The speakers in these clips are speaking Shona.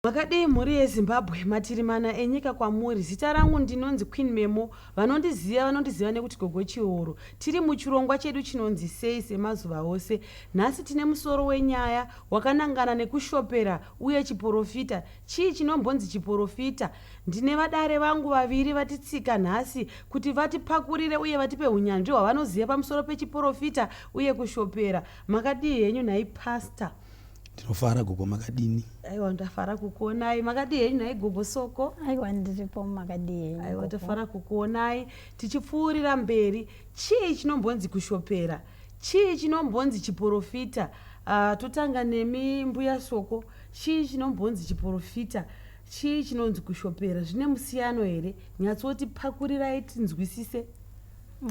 Makadii mhuri yeZimbabwe, matiri mana enyika kwamuri. Zita rangu ndinonzi Queen Memo, vanondiziva vanondiziva nekuti Gogo Chihoro. Tiri muchirongwa chedu chinonzi Sei semazuva ose. Nhasi tine musoro wenyaya wakanangana nekushopera Uye chiporofita, chii chinombonzi chiporofita? Ndine vadare vangu vaviri vatitsika nhasi kuti vatipakurire uye vatipe hunyanzvi hwavanoziva pamusoro pechiporofita uye kushopera. Makadii henyu nhai Pastor? Ndinofara gogo makadini? Aiwa ndafara kukuonai. Makadii henyu nhai gogo Soko? Aiwa ndiripo makadii henyu Aiwa gogo? tafara kukuonai. Tichipfuurira mberi, chii chinombonzi kushopera? Chii chinombonzi chiporofita? Ah, totanga nemi mbuya Soko. Chii chinombonzi chiporofita? Chii chinonzi kushopera? Zvine musiyano here? Nyatsoti pakurirai tinzwisise.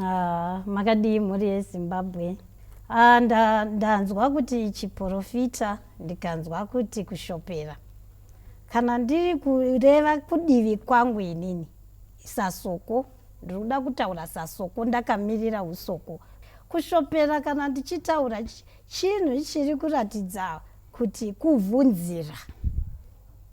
Ah, makadii mhuri yezimbabwe ah, nda, ndanzwa kuti chiporofita ndikanzwa kuti kushopera kana ndiri kureva kudivi kwangu inini isasoko Ndiri kuda kutaura sasoko ndakamirira husoko. Kushopera kana ndichitaura chinhu chiri kuratidza kuti kuvhunzira.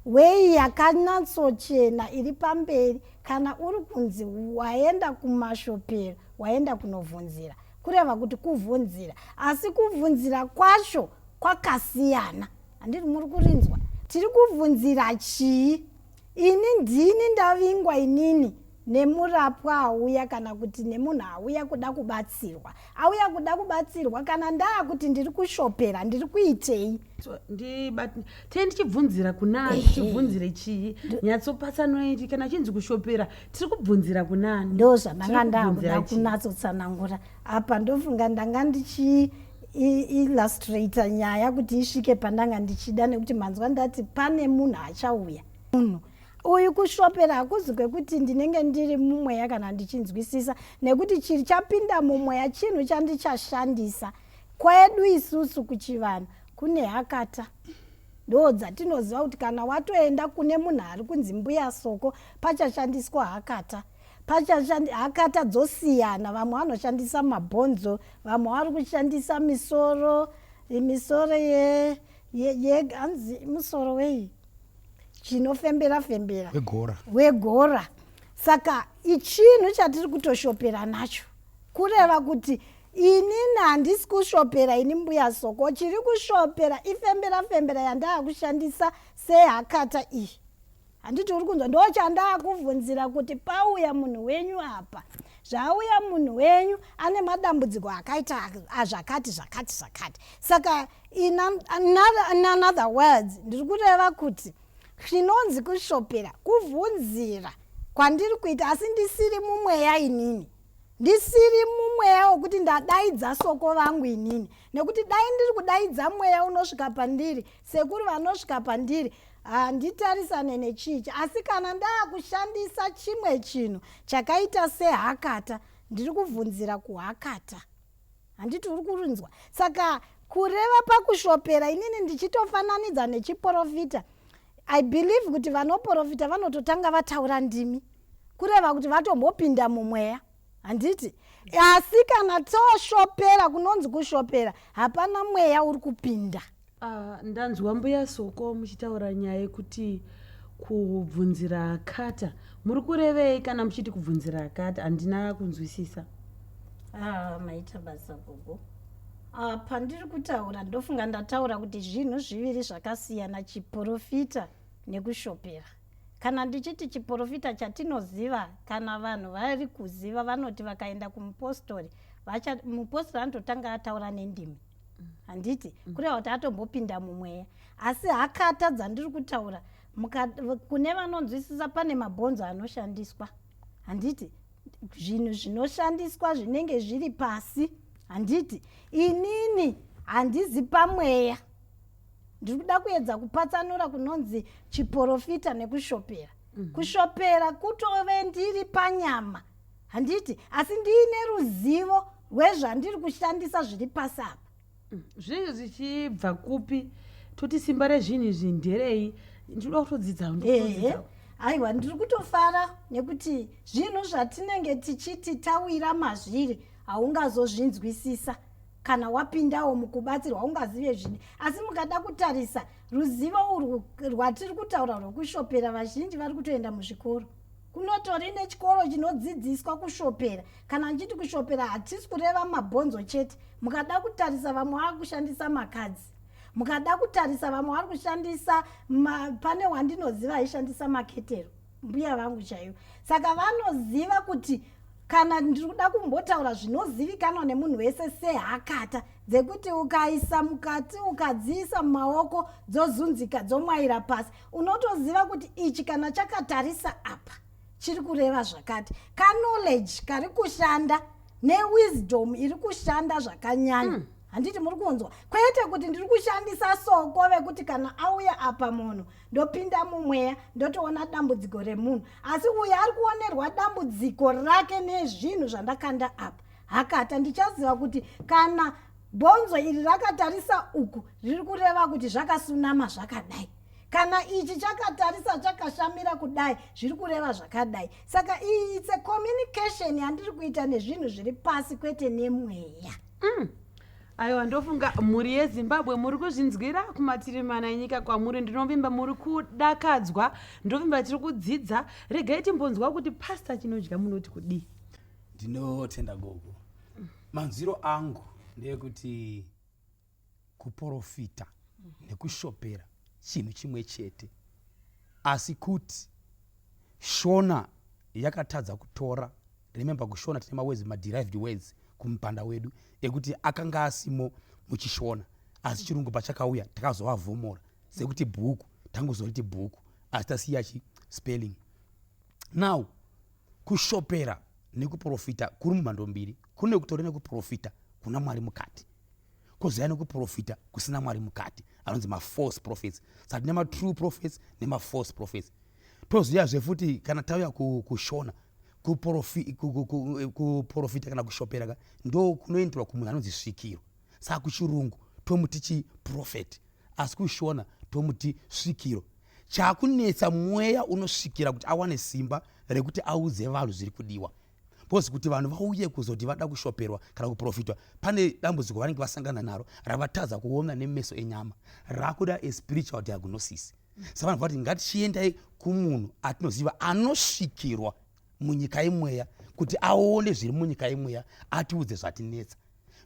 Weyi yakanyatsochena iri pamberi kana uri kunzi waenda kumashopero waenda kunovhunzira kureva kuti kuvhunzira asi kuvhunzira kwacho kwakasiyana handiri muri kurinzwa tiri kuvhunzira chii Ini ndini ndavingwa inini nemurapwa auya kana kuti nemunhu auya kuda kubatsirwa auya kuda kubatsirwa kana ndaa kuti ndiri kushopera ndiri kuitei tee ndichibvunzira kunani tichibvunzire chii nyatsopatsanoi kana chinzi kushopera tiri kubvunzira kunani ndo zvandanga ndaakuda kunatsotsanangura apa ndofunga ndanga ndichii illustrator nyaya kuti isvike pandanga ndichida nekuti manzwa ndati pane munhu achauya munhu uyu kushopera hakuzi kwekuti ndinenge ndiri mumweya kana ndichinzwisisa nekuti chiri chapinda mumweya chinhu chandichashandisa kwedu isusu kuchivanhu kune hakata ndo dzatinoziva kuti kana watoenda kune munhu ari kunzi mbuya soko pachashandiswa hakata Pachashandi hakata dzosiyana vamwe vanoshandisa mabhonzo vamwe vari kushandisa misoro misoro ye ye ye hanzi musoro wei chinofembera fembera wegora wegora saka ichinhu chatiri kutoshopera nacho kureva kuti inini handisi kushopera ini mbuya soko chiri kushopera ifembera fembera yandaakushandisa sehakata iyi handiti uri kunzwa ndochandakuvhunzira kuti pauya munhu wenyu apa zvauya munhu wenyu ane madambudziko akaita azvakati zvakati zvakati saka in another words ndiri kureva kuti zvinonzi kushopera kuvhunzira kwandiri kuita asi ndisiri mumweya inini ndisiri mumweya wekuti ndadaidza soko vangu inini nekuti dai ndiri kudaidza mweya unosvika pandiri Sekuru vanosvika pandiri handitarisane nechichi asi kana ndaakushandisa chimwe chinhu chakaita sehakata ndiri kuvhunzira kuhakata handiti uri kurinzwa saka kureva pakushopera inini ndichitofananidza nechiporofita i believe kuti vanoporofita vanototanga vataura ndimi kureva kuti vatombopinda mumweya handiti asi kana toshopera kunonzi kushopera hapana mweya uri kupinda Ah, ndanzwa mbuya Soko muchitaura nyaya yekuti kubvunzira akata. Muri kurevei kana muchiti kubvunzira akata? Handina kunzwisisa. Ah, maita basa gogo. Ah, pandiri kutaura ndofunga ndataura kuti zvinhu zviviri zvakasiyana chiporofita nekushopera. Kana ndichiti chiporofita chatinoziva kana vanhu vari kuziva vanoti vakaenda kumupostori vacha mupostori anototanga ataura nendimi. handiti mm. kureva kuti atombopinda mumweya asi hakata dzandiri kutaura kune vanonzwisisa pane mabhonzo anoshandiswa handiti zvinhu zvinoshandiswa zvinenge zviri pasi handiti inini handizi pamweya ndiri kuda kuedza kupatsanura kunonzi chiporofita nekushopera mm -hmm. kushopera kutove ndiri panyama handiti asi ndiine ruzivo rwezvandiri kushandisa zviri pasi apa mm, zvinenge zvichibva kupi toti simba rezvinhu izvi nderei ndinoda kutodzidza aiwa ndiri kutofara nekuti zvinhu zvatinenge tichiti tawira mazviri haungazozvinzwisisa kana wapindawo mukubatsirwa ungazive zvine asi mukada kutarisa ruzivo urwu rwatiri kutaura rwekushopera vazhinji vari kutoenda muzvikoro kunotori nechikoro chinodzidziswa kushopera kana ndichiti kushopera hatisi kureva mabhonzo chete mukada kutarisa vamwe vava kushandisa makadzi mukada kutarisa vamwe vari kushandisa pane wandinoziva aishandisa maketero mbuya vangu chaivo saka vanoziva kuti kana ndiri kuda kumbotaura zvinozivikanwa nemunhu wese sehakata dzekuti ukaisa mukati ukadziisa mumaoko dzozunzika dzomwaira pasi unotoziva kuti ichi kana chakatarisa apa chiri kureva zvakati kanoledge kari kushanda newisdom iri kushanda zvakanyanya mm. handiti muri kunzwa kwete kuti ndiri kushandisa soko vekuti kana auya apa munhu ndopinda mumweya ndotoona dambudziko remunhu asi uyo ari kuonerwa dambudziko rake nezvinhu zvandakanda apa hakata ndichaziva kuti kana Bonzo iri rakatarisa uku riri kureva kuti zvakasunama zvakadai kana ichi chakatarisa chakashamira kudai zviri kureva zvakadai saka iyi its a communication yandiri kuita nezvinhu zviri pasi kwete nemweya mm. aiwa ndofunga mhuri yezimbabwe muri kuzvinzwira kumatiri mana enyika kwamuri ndinovimba muri kudakadzwa ndovimba tiri kudzidza regai timbonzwa kuti pasta chinodya munoti kudii ndinotenda gogo manzwiro angu ndeyekuti kuporofita nekushopera chinhu chimwe chete asi kuti shona yakatadza kutora remember kushona tine mawezi maderived words kumupanda wedu ekuti akanga asimo muchishona asi chirungu pachakauya takazovavhomora sekuti bhuku tangozoriti bhuku asi tasiya chi spelling now kushopera nekuprofita kuri mumhando mbiri kune kutori nekuprofita kuna mwari mukati kozaya nekuprofita kusina mwari mukati anonzi mafalse prophets saka tine matrue prophets nemafalse prophets toziyazve futi kana tauya kushona kuprofita kana kushopera ka ndo kunoenderwa kumunhu anonzi svikiro saka kuchirungu tomuti chiprofeti asi kushona tomuti svikiro chakunetsa mweya unosvikira kuti awane simba rekuti audze vanhu zviri kudiwa bcause kuti vanhu vauye kuzoti vada kushoperwa kana kuprofitwa pane dambudziko vanenge vasangana naro ravatadza kuona nemeso enyama rakuda espiritual diagnosis sa vanhu vati ngatichiendai kumunhu atinoziva anosvikirwa munyika yemweya kuti aone zviri munyika yemweya atiudze zvatinetsa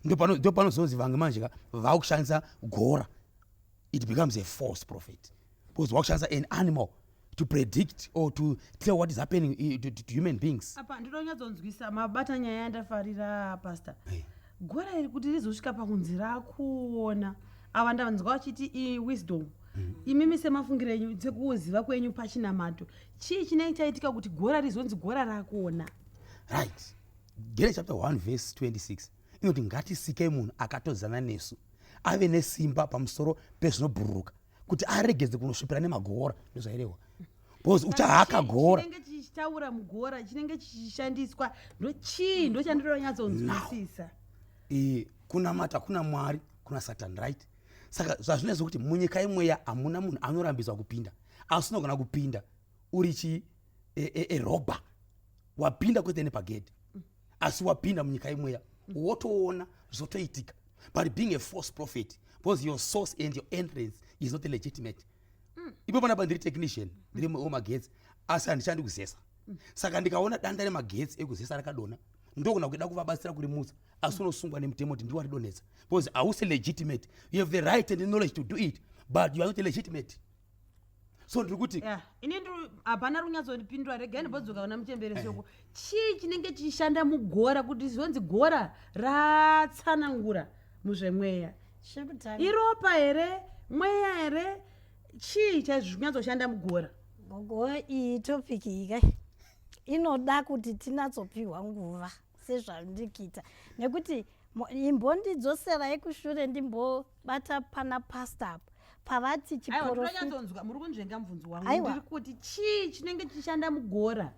ndopanozonzi vange manje ka vakushandisa gora it becomes a false prophet because wakushandisa an animal to predict or to tell what is happening eh, to, to, to human beings apa ndinonyatsonzwisa mabata nyaya yandafarira pastor hey. Eh. gora iri kuti rizosvika pakunzi rakuona ava ndanzwa vachiti iwisdom mm. imimi semafungiro enyu sekuziva kwenyu pachinamato chii chinenge chaitika kuti gora rizonzi gora rakuona right Danieri chapter 1 verse 26 inoti ngatisikei munhu akatodzana nesu ave nesimba pamusoro pezvinobhururuka kuti aregedze kunosvipira nemagoora ndozvairehwa bcause uchahaka gora chinenge chichitaura mugora chinenge chichishandiswa ndochii ndochandironyatsonzwisisa kunamata kuna mwari kuna satan right saka zvazvinaiso kuti munyika imweya hamuna munhu anorambidzwa kupinda asi unogona kupinda uri chi erobha e, e, wapinda kwete nepagedhi asi wapinda munyika imweya wotoona zvotoitika but being a false prophet because your source and your entrance is not legitimate mm. ipo panapa ndiri technician ndiri wemagetsi asi handichandi kuzesa mm. saka ndikaona danda remagetsi ekuzesa rakadona ndogona kuida kuvabatsira kurimutsa asi unosungwa nemutemo kuti ndiwo aridonetsa because hausi legitimate you have the right and the knowledge to do it but you are not legitimate so ndiri kuti ini hapana runyatsondipindura regai ndibodzoka kuna muchembere soko eh. chii chinenge chichishanda mugora kuti zvonzi gora ratsanangura muzvemweya iropa here mweya here chii chaizvinyatsoshanda mugora gogo iyi topiki iyi kai inoda kuti tinatsopiwa nguva sezvandikita nekuti imbondidzosera yekushure ndimbo bata pana pastor apa pavati chiporofitanyatsoonzwa muri kunzvenga mubvunzo wangu ndiri kuti chii chinenge chichishanda mugora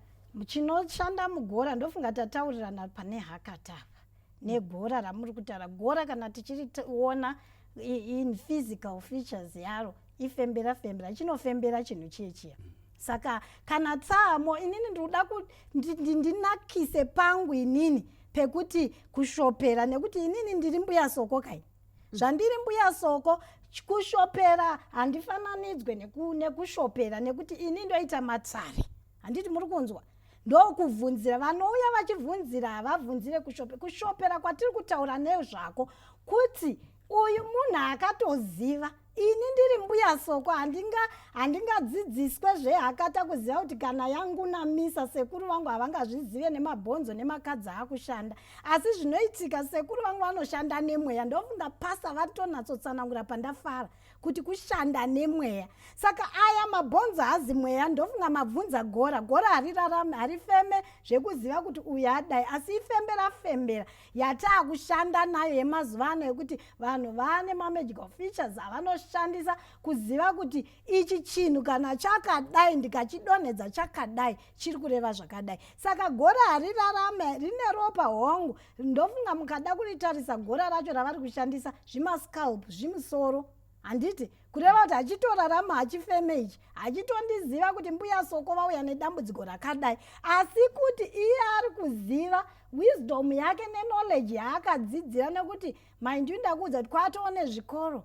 chinoshanda mugora ndofunga tataurirana pane hakatava negora ramuri kutaura gora kana tichiriona in physical features yaro ifembera fembera chinofembera chinhu chiye chiya saka kana tsamo inini ndikuda kuti ndinakise pangu inini pekuti kushopera nekuti inini ndiri mbuya soko kai zvandiri mbuya soko kushopera handifananidzwe nekushopera nekuti ini ndoita matsari handiti muri kunzwa ndokubvunzira vanouya vachibvunzira havabvunzire kushopera kushopera kwatiri kutaura nezvako kuti uyu munhu akatoziva ini ndiri mbuya soko handinga handingadzidziswe zvehakata kuziva kuti kana yangunamisa sekuru vangu havangazvizive nemabhonzo nemakadzi akushanda asi zvinoitika sekuru vangu vanoshanda nemweya ndofunga pasa vatonatsotsanangura pandafara kuti kushanda nemweya saka aya mabhonzo hazi mweya ndofunga mabvunza gora gora harirarame harifeme zvekuziva kuti uyu adai asi ifembera fembera yataakushanda nayo yemazuva ano yekuti vanhu vane mamagical features avanoshandisa kuziva kuti ichi chinhu kana chakadai ndikachidonhedza chakadai chiri kureva zvakadai saka gora harirarame rine ropa hongu ndofunga mukada kuritarisa gora racho ravari kushandisa zvimascalp zvimusoro handiti kureva kuti hachitorarama hachifeme ichi hachitondiziva kuti mbuya soko vauya nedambudziko rakadai asi kuti iye ari kuziva wisdom yake neknowledge yaakadzidzira nekuti mind you ndakuudza kuti kwatoo nezvikoro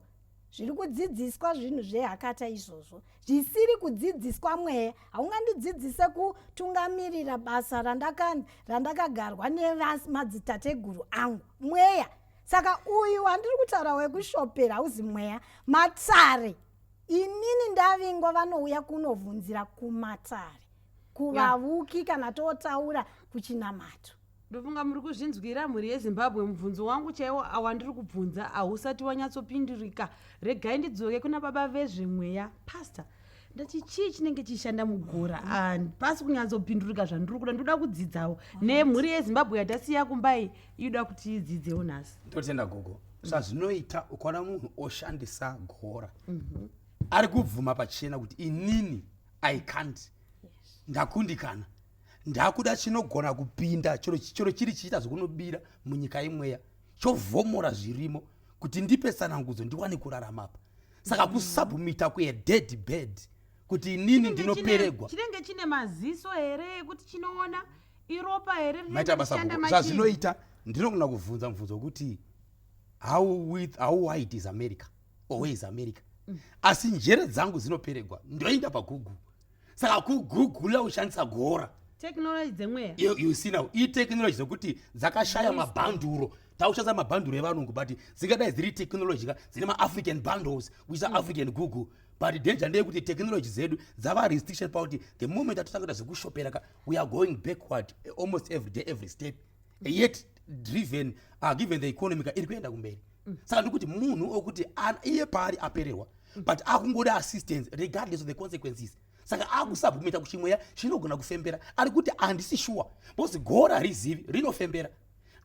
zviri kudzidziswa zvinhu zvehakata izvozvo zvisiri kudzidziswa mweya haungandidzidzise kutungamirira basa randakagarwa nemadzitateguru angu mweya randa saka uyu wandiri kutaura wekushopera hauzi mweya matare inini ndavingwa vanouya kunovhunzira kumatare kuvavuki yeah. kana totaura kuchinamato ndofunga muri kuzvinzwira mhuri yezimbabwe mubvunzo wangu chaiwo awandiri kubvunza ahusati wanyatsopindurika regai ndidzoke kuna baba vezvemweya pastor ndati chii chinenge chichishanda mugora handipasi kunyatsopindurika zvandiri kuda ndoda kudzidzawo nemhuri yezimbabwe yatasiya kumbai inoda kuti idzidzewo nhasi totenda gogo zvazvinoita ukaona munhu oshandisa gora mhm. ari kubvuma pachena kuti inini i can't ndakundikana ndakuda chinogona kupinda chero chiri chiita zvekunobira munyika imweya chovhomora zvirimo kuti ndipe sanangudzo ndiwane kurarama apa saka kusubmita kuye dead bed kuti inini ndinoperegwa chinenge chine maziso here ekuti chinoona iropa here maita basa zvazvinoita ndinogona kuvhunza mubvunzo wekuti how with how wide is america or where is america mm. asi njere dzangu dzinoperegwa ndoenda pagugu saka kugugula ushandisa gora technology dzemweya you, you see now itechnology dzekuti dzakashaya mabhanduro taushandisa mabhanduro evanungu but dzingadai dziri technology ka dzine maafrican bundles which are mm. african google but danger ndeyekuti technology dzedu dzava restriction pakuti the moment atotanga kuita zvekushopera ka we are going backward almost every day every step yet driven uh, given the economy iri kuenda kumberi mm. saka ndikuti munhu okuti iye paari apererwa mm. but akungoda assistance regardless of the consequences saka akusabvumita kuti mweya chinogona kufembera ari kuti handisi shuwa because gora harizivi rinofembera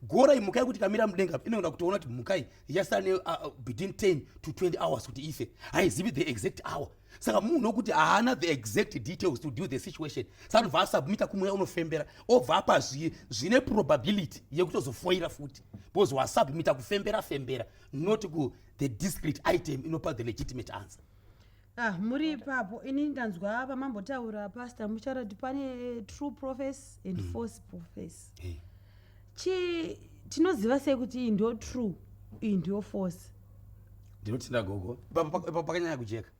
gora imhuka yekuti kamira mudenga inogona kutoona kuti mhukai yasane uh, uh, between 10 to 20 hours kuti ife haizivi the exact hour saka munhu wekuti haana the exact details to deal the situation saka anobva asubmita kumweya unofembera obva apa zvine probability yekutozofoira futi because wasubmita kufembera fembera not ku the discrete item inopa the legitimate answer ah muri ipapo ini ndanzwa vamambotaura pastor mucharati pane true profes and mm. false profes hey. chi tinoziva sei kuti iyi ndiyo true iyi ndiyo force ndinotenda gogo pakanyanya kujeka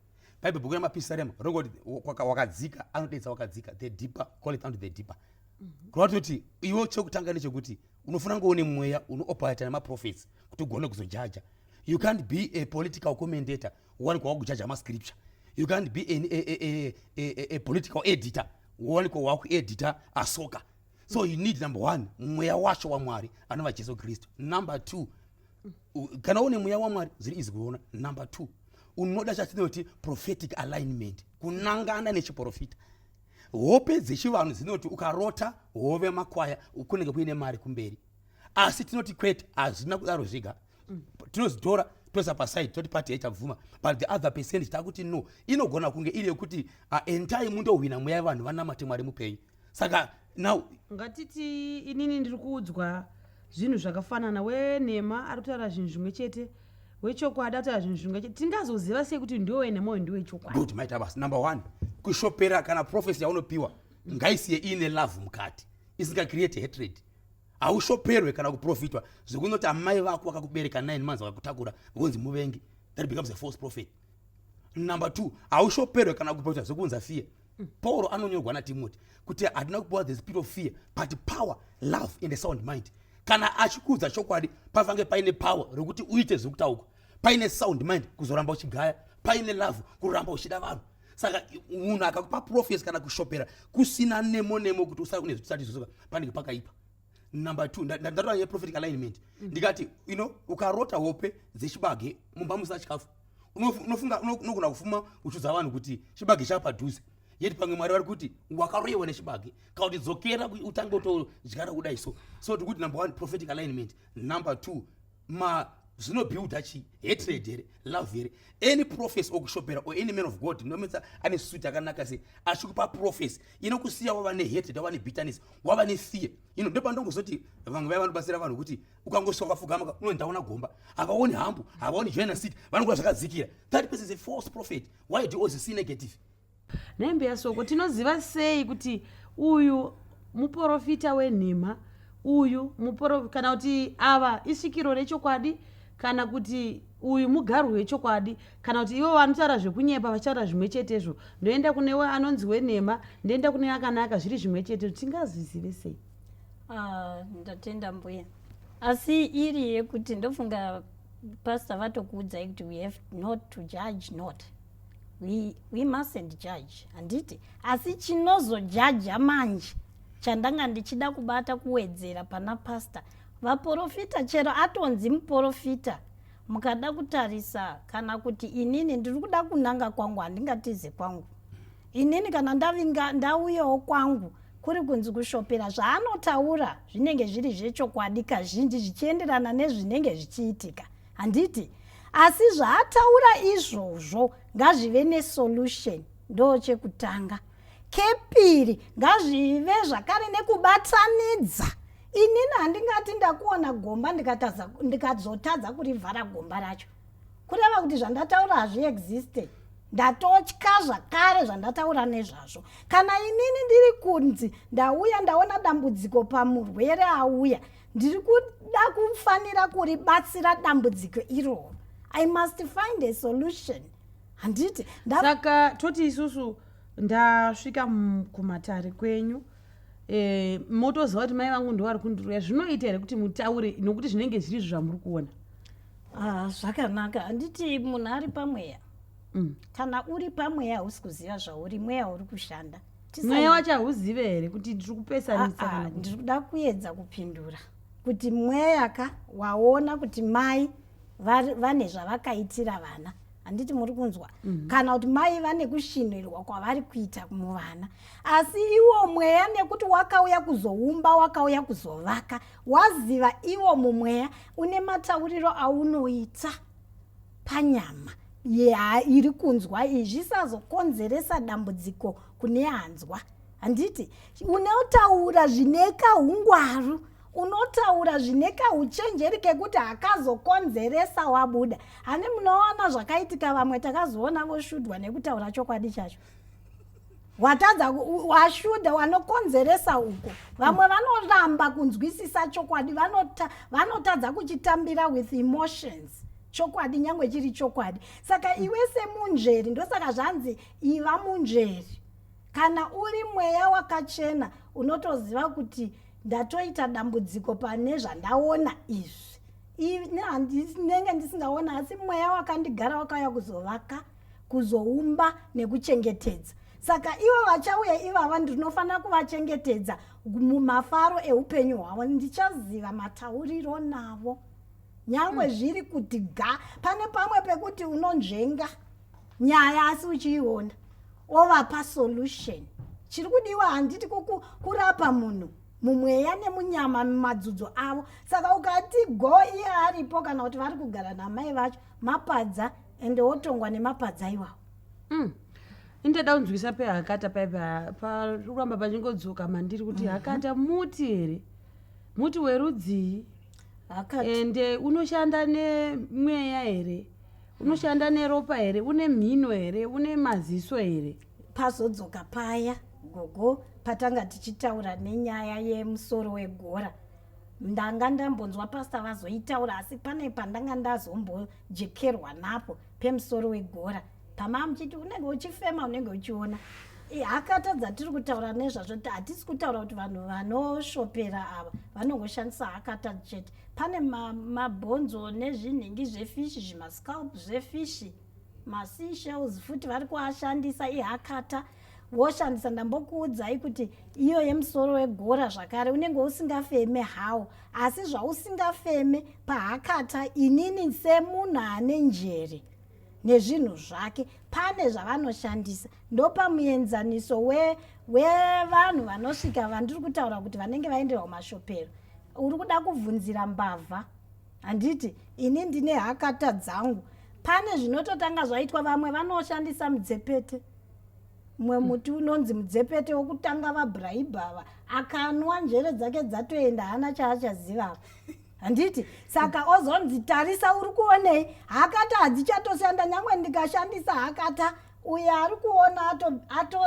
baibe bhuku remapisarema rongoti wakadzika anodeidza wakadzika the deeper call it unto the deeper mhm. kureva toti iwo chekutanga nechekuti unofuna kunge une mweya unooperata nemaprofets kuti ugone kuzojaja you can't be a political commentator wanikwa wakujaja mascripture you can't be an, a, a, a, a, a political editor wanikwa wakuedita asoka so you need number one mweya wacho wamwari anova jesu kristu number two kana une mweya wamwari zviri izi kuona number two unoda chatinoti prophetic alignment kunangana nechiprofita hope dzechivanhu dzinoti ukarota hove makwaya kunenge kuine mari kumberi asi tinoti kwete hazvina kudaro zviga tinozitora toisa paside toti pati yaichabvuma but the other percentage takuti no inogona kunge iri yekuti uh, entai mundohwina mweya yevanhu vanamate mwari mupenyu saka now ngatiti inini ndiri kuudzwa zvinhu zvakafanana wenhema ari kutaura zvinhu zvimwe chete wechokwadi ataura zvinhu zvimwe chete tingazoziva sei kuti ndiwe wenhema uyu ndiwe chokwadi good maita basa number one kushopera kana prophecy yaunopiwa ngaisiye iine love mukati isinga create hatred haushoperwe kana kuprofitwa zvekunoti amai vako vakakubereka nine months vakakutakura vonzi muvengi that becomes a false prophet number two haushoperwe kana kuprofitwa zvekunza fear pauro anonyorwa natimoti kuti hatina kupiwa the spirit of fear but power love and a sound mind kana achikuudza chokwadi pafange paine power rekuti uite zviri kutauka paine sound mind kuzoramba uchigaya paine love kuramba uchida vanhu saka munhu akakupa profesi kana kushopera kusina nemo nemo kuti usara kune zvitisati zvizoka panenge pakaipa number two ndatova yeprophetic alignment mm. ndikati you know ukarota hope dzechibage mumba musina chikafu unofunga unogona kufuma uchudza vanhu kuti chibage chapadhuze yeti pamwe mwari vari kuti wakaroyewa nechibage kana kuti dzokera utange utodyara kudai so so tikuti number one prophetic alignment number two ma zvinobuilda chii hatred here love here any prophes okushopera or any man of god ndometsa ane suit akanaka se achikupa prophes inokusiya wava nehatred wava nebitterness wava nefear ino ndo pandongozoti vamwe vaya vanobatsira vanhu kuti ukangosvika kwafugama unondaona gomba havaoni hambu havaoni joina city vanokuva zvakadzikira that person is a false prophet why do you always see negative Nhai mbuya Soko, tinoziva sei kuti uyu muporofita wenhema, uyu muporo, kana kuti ava isvikiro rechokwadi, kana kuti uyu mugarwi wechokwadi, kana kuti ivo vanotaura zvekunyepa vachitaura zvimwe chetezvo, ndoenda kune we- anonzi wenhema, ndoenda kune akanaka, zviri zvimwe chetezvo, tingazvizive sei? Ah, ndatenda mbuya asi iri yekuti ndofunga pastor vatokuudzai kuti we have not to judge not we, we mustn't judge handiti asi chinozojaja manje chandanga ndichida kubata kuwedzera pana pasta vaporofita chero atonzi muporofita mukada kutarisa kana kuti inini ndiri kuda kunanga kwangu handingatize kwangu inini kana ndavinga ndauyawo kwangu kuri kunzi kushopera zvaanotaura zvinenge zviri zvechokwadi kazhinji zvichienderana nezvinenge zvichiitika handiti asi zvaataura izvozvo ngazvive nesolution ndo chekutanga kepiri ngazvive zvakare nekubatanidza inini handingati ndakuona gomba ndikazotadza kurivhara gomba racho kureva kuti zvandataura hazviexiste ndatotya zvakare zvandataura nezvazvo kana inini ndiri kunzi ndauya ndaona dambudziko pamurwere auya ndiri kuda kufanira kuribatsira dambudziko iroro i must find a solution handiti saka toti isusu ndasvika kumatare kwenyu eh, motoziva kuti mai vangu ndovari kundiroya zvinoita here kuti mutaure nokuti zvinenge zviri izvo zvamuri kuona ah, zvakanaka handiti munhu ari pamweya mm. kana uri pamweya hausi kuziva zvauri mweya uri kushanda mweya wacho hauzive here kuti ndiri kupesanisa kana ndiri kuda kuedza kupindura kuti mweya ka waona kuti mai vane zvavakaitira vana handiti muri kunzwa mm -hmm. kana kuti mai vane kushinhirwa kwavari kuita muvana asi iwo mweya nekuti wakauya kuzoumba wakauya kuzovaka waziva iwo mumweya une matauriro aunoita panyama iri kunzwa iyi zvisazokonzeresa dambudziko kune anzwa handiti unotaura zvine kahungwaru unotaura zvine kauchenjeri kekuti hakazokonzeresa wabuda hane munoona zvakaitika vamwe takazoona voshudwa nekutaura chokwadi chacho watadza washuda wanokonzeresa uko vamwe mm. vanoramba kunzwisisa chokwadi vanotadza kuchitambira with emotions chokwadi nyange chiri chokwadi saka mm. iwe semunzveri ndosaka zvanzi iva munzveri kana uri mweya wakachena unotoziva kuti ndatoita dambudziko pane zvandaona izvi nenge ndisingaona asi mweya wakandigara wakauya kuzovaka kuzoumba nekuchengetedza saka ivo vachauya ivava ndinofanira kuvachengetedza mumafaro eupenyu hwavo ndichaziva matauriro navo nyangwe mm. zviri kuti ga pane pamwe pekuti unonzvenga nyaya asi uchiiona ovapa solution chiri kudiwa handiti kurapa munhu mumweya nemunyama mumadzudzo avo saka ukati go iye aripo kana kuti vari kugara namai vacho mapadza ende wotongwa nemapadza iwawo mm. indada unzwisa pehakata paye paramba pachingodzoka mandiri kuti mhm. hakata muti here muti werudzii ende unoshanda nemweya here unoshanda neropa here une mhino here une maziso here pazodzoka paya gogo patanga tichitaura nenyaya yemusoro wegora ndanga ndambonzwa pastor vazoitaura asi pane pandanga ndazombojekerwa napo pemusoro wegora pamava muchiti unenge uchifema unenge uchiona haka tadzatiri kutaura nezvazvo ti hatisi kutaura kuti vanhu vanoshopera ava vanongoshandisa hakata chete pane mabhonzo ma nezvinhingi zvefishi zvimascalp zvefishi masea shells futi vari kuashandisa ihakata woshandisa ndambokuudzai kuti iyo yemusoro wegora zvakare unenge usingafeme hawo asi zvausingafeme pahakata inini semunhu ane njere nezvinhu zvake pane zvavanoshandisa ndopamuenzaniso wevanhu we vanosvika vandiri kutaura kuti vanenge vaenderwa kumashopero uri kuda kubvunzira mbavha handiti ini ndine hakata dzangu pane zvinototanga zvaitwa vamwe vanoshandisa mudzepete mumwe hmm. muti unonzi mudzepete wokutanga vabrahibhava akanwa njere dzake dzatoenda hana chaachazivava handiti saka ozonzi tarisa uri kuonei hakata hadzichatoshanda nyangwe ndikashandisa hakata uyo ari kuona ato, ato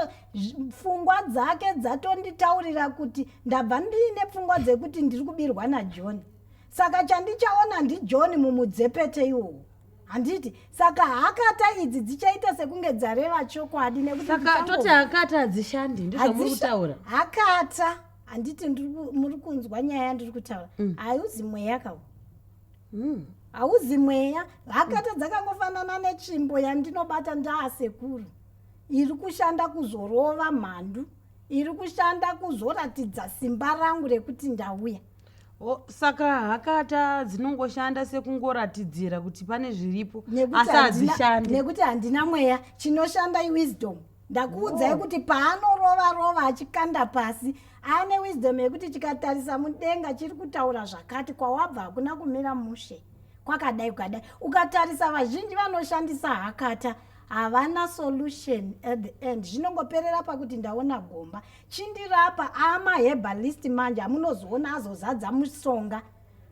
pfungwa dzake dzatonditaurira kuti ndabva ndiine pfungwa dzekuti ndiri kubirwa najoni saka chandichaona ndijohn mumudzepete iwowo handiti saka hakata idzi dzichaita sekunge dzareva chokwadi nekusaka toti hakata hadzishandi ndizvamuri kutaura hakata handiti muri kunzwa nyaya yandiri kutaura mm. hauzi mweya kawo mm. hauzi mweya hakata dzakangofanana netsvimbo yandinobata ndaasekuru iri kushanda kuzorova mhandu iri kushanda kuzoratidza simba rangu rekuti ndauya Oh, saka hakata dzinongoshanda sekungoratidzira kuti pane zviripo Nekuti asi handina- hadzishandi nekuti handina mweya chinoshanda iwisdom ndakuudzai kuti paanorova rova achikanda pasi ane wisdom yekuti chikatarisa mudenga chiri kutaura zvakati kwawabva hakuna kumira mushe kwakadai kwakadai ukatarisa vazhinji vanoshandisa hakata havana solution at the end zvinongoperera pakuti ndaona gomba Chindirapa ama herbalist manje amunozoona azozadza musonga.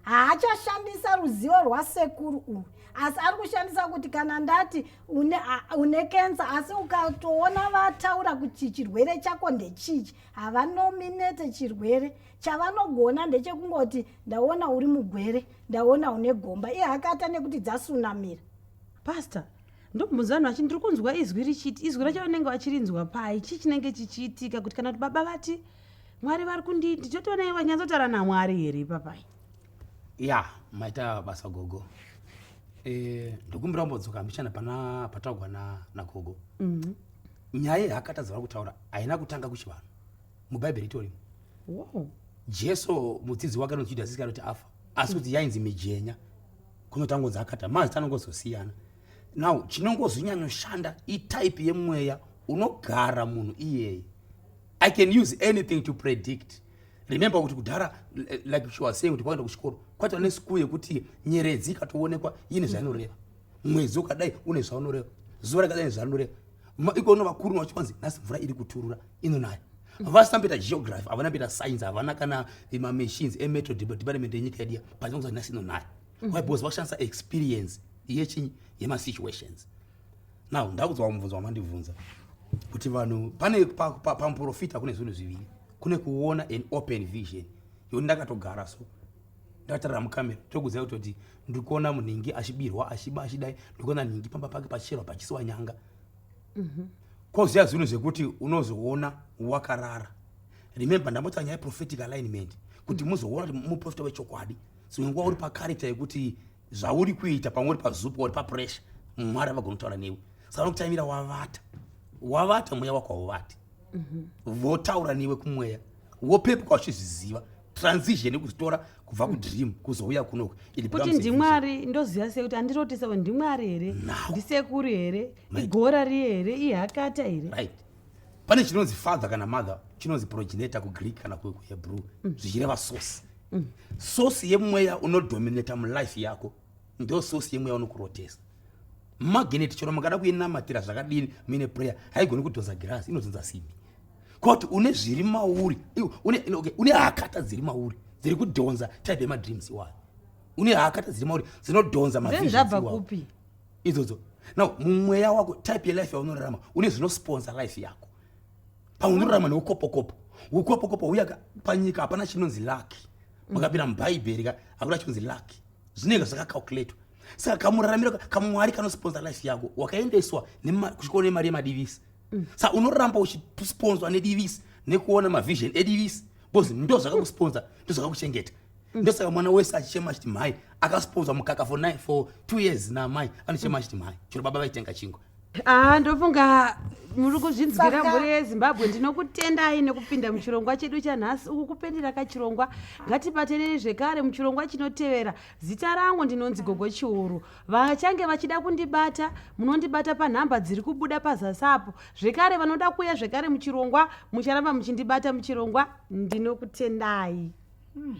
Haachashandisa ruzivo rwasekuru uyu asi ari kushandisa kuti kana ndati une, a, une kensa asi ukatoona vataura kuti chirwere chako ndechichi havanominete chirwere chavanogona ndechekungoti ndaona uri mugwere ndaona une gomba ihakata nekuti dzasunamira pastor ndokubvunza vanhu vachiti ndiri kunzwa izwi richiti izwi racho vanenge vachirinzwa pai chii chinenge chichiitika kuti kana kuti baba vati mwari vari kundii ndichotoona iye vanyatsotaura namwari here ipapai ya maita basa gogo eh, ndokumbira mbodzoka mbichana pana pataugwa nagogo mhm. nyaya yaakatadza vari kutaura haina kutanga kuchivanhu mubhaibheri itorimo jesu mudzidzi wake anonzi judhasi iskarioti afa asi kuti yainzi mijenya kunotangodza akata mazita anongozosiyana now chinongozonyanyoshanda itype yemweya unogara munhu iyeye i can use anything to predict remember kuti kudhara like she was saying kuti kwaenda kuchikoro kwaita nesiku yekuti nyeredzi ikatoonekwa ine zvainoreva mwedzi ukadai une zvaunoreva zuva rakadai nezvarinoreva ikono vakuru vacho vanzi nhasi mvura iri kuturura inonaya vasina mboita geography havana mboita science havana kana mamachines emetro department yenyika yedu ya but vanonzi nhasi inonaya mm. why because vakushandisa experience yechinyi yemasituations now ndakudzwa mubvunzo wamandibvunza kuti vanhu pane pamuprofita kune zvinhu zviviri kune kuona an open vision yoni ndakatogara so ndatarira mukamera tokuziva kutoti ndiri kuona munhingi achibirwa achiba achidai ndiri kuona nhingi pamba pake pachicherwa pachisiwa nyanga mhm. koziva zvinhu zvekuti unozoona wakarara remember ndambotaura nyaya prophetic alignment kuti mhm. muzoona kuti muprofita wechokwadi so nguva uri pacharacter yekuti zvauri kuita pamwe uri pazupa uri papressure mwari avagonotaura newe saka nokutaimira wavata wavata mweya wako hauvati mhm. votaura newe kumweya wopepuka uchizviziva transition yekuzitora kubva kudream kuzouya kunoku kuti ndimwari ndoziva sei kuti andiroti savo ndimwari here ndisekuru here igora riye here ihakata here right pane chinonzi father kana mother chinonzi proginator kugreek kana kuhebrew mm. zvichireva source Mm. Source yemweya unodominata mulife yako ndo source yemweya unokurotesa. Magnet chero makada kuinamatira zvakadini muine prayer haigoni kudhonza girasi inodhonza simbi. Koti une zviri mauri une, okay, une hakata dziri mauri dziri kudhonza type yemadreams iwayo une hakata dziri mauri dzinodhonza mavizhava kupi idzodzo now mumweya wako type yelife yaunorarama une zvinosponsa life yako paunorarama neukopokopo ukopokopo uya panyika hapana chinonzi laki makapinda mubhaibheri ka hakuna chinonzi laki zvinenge zvakacalculatwa saka kamuraramiro kamwari kanosponsa life yako wakaendeswa kuchikoro nemari yemadivisi mm. sa unoramba uchisponswa nedivisi nekuona mavision edivisi bcause ndo zvakakusponsa ndo zvakakuchengeta mm. ndosaka mwana wese achichema achiti mhai akasponswa mukaka for, for two years namai anochema achiti mhai chero baba vaitenga chingwa aa ndofunga muri kuzvinzwira mhuri yezimbabwe ndinokutendai nekupinda muchirongwa chedu chanhasi uku kupendera kachirongwa ngatibatanei zvekare muchirongwa chinotevera zita rangu ndinonzi gogo chiuru vachange vachida kundibata munondibata panhamba dziri kubuda pazasi apo zvekare vanoda kuuya zvekare muchirongwa mucharamba muchindibata muchirongwa ndinokutendai hmm.